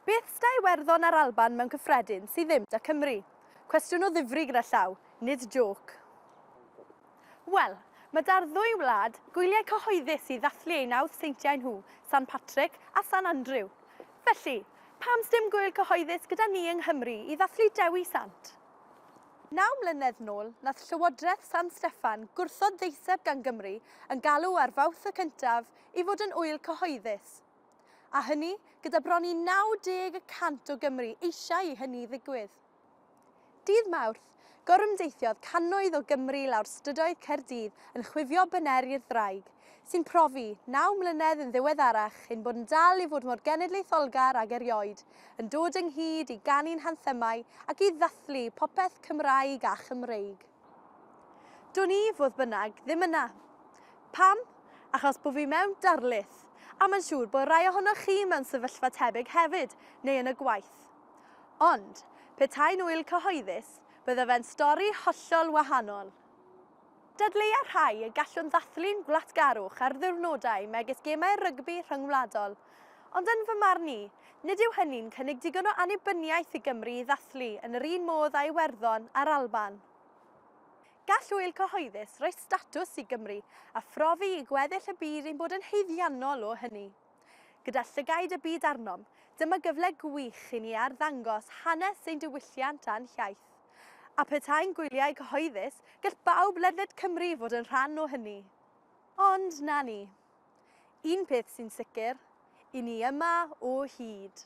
Beth da Iwerddon a'r Alban mewn cyffredin sydd ddim da Cymru? Cwestiwn o ddifri gyda llaw, nid jôc. Wel, mae da'r ddwy wlad gwyliau cyhoeddus i ddathlu eu nawdd seintiau nhw, San Patrick a San Andrew. Felly, pam sdim gwyl cyhoeddus gyda ni yng Nghymru i ddathlu Dewi Sant? Naw mlynedd nôl, nath Llywodraeth San Steffan gwrthod ddeiseb gan Gymru yn galw ar Fowth y Cyntaf i fod yn ŵyl cyhoeddus. A hynny gyda bron i 90 y cant o Gymru eisiau i hynny ddigwydd. Dydd Mawrth, gorymdeithiodd cannoedd o Gymry lawr strydoedd Caerdydd yn chwifio bynner i'r ddraig, sy'n profi, naw mlynedd yn ddiweddarach, ein bod yn dal i fod mor genedlaetholgar ag erioed, yn dod ynghyd i ganu'n hanthemau ac i ddathlu popeth Cymraeg a Chymreig. Dwn i, fodd bynnag, ddim yna. Pam? Achos bod fi mewn darlith, a mae'n siŵr bod rai ohonoch chi mewn sefyllfa tebyg hefyd, neu yn y gwaith. Ond, petai'n ŵyl cyhoeddus, bydde fe'n stori hollol wahanol. Dadleua'r rhai y gallwn ddathlu'n wlatgarwch ar ddiwrnodau megis gemau rygbi rhyngwladol. Ond yn fy marn i, nid yw hynny'n cynnig digon o annibyniaeth i Gymru i ddathlu yn yr un modd â Iwerddon a'r Alban. Gall ŵyl cyhoeddus roi statws i Gymru a phrofi i gweddill y byd ein bod yn haeddiannol o hynny. Gyda llygaid y byd arnom, dyma gyfle gwych i ni arddangos hanes ein diwylliant a'n hiaith. A phetai'n gwyliau cyhoeddus, gall bawb ledled Cymru fod yn rhan o hynny. Ond, na ni. Un peth sy'n sicr, i ni yma o hyd.